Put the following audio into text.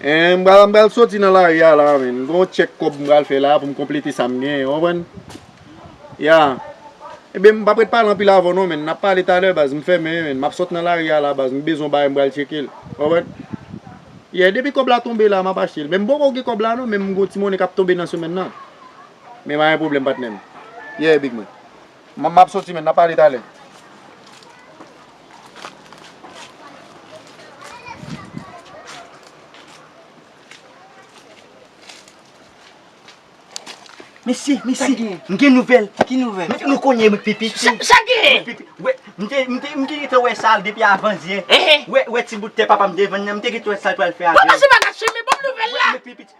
Eeh m pral soti nan lari a la men, gon tchèk kòb m pral fè la pou m konplete sa m genyen ou konprann? Ya Ebyen m pap ret pale anpil avè w non men, n ap pale talè baz m fèmen men, m ap sot nan lari a la baz m bezwen yon bagay m pral tcheke l ou konprann? Yeah depi kòb la tonbe la m ap achte l men m poko gen kòb la non men m gon ti monnen k ap tonbe nan semèn nan Men pa gen pwoblèm patnè m Yeah big man. Mwen map soti men nap pale talè. Mesye, mesye, m gen nouvèl. Ki nouvèl? Mesye nou konnen m pipi. Sa gen? M te gentan wè sa depi avandyè. Wè ti bout tè papa m te vann nan. M te gentan wè sa l pral fè avè l. Papa se pa gason men banm nouvèl la.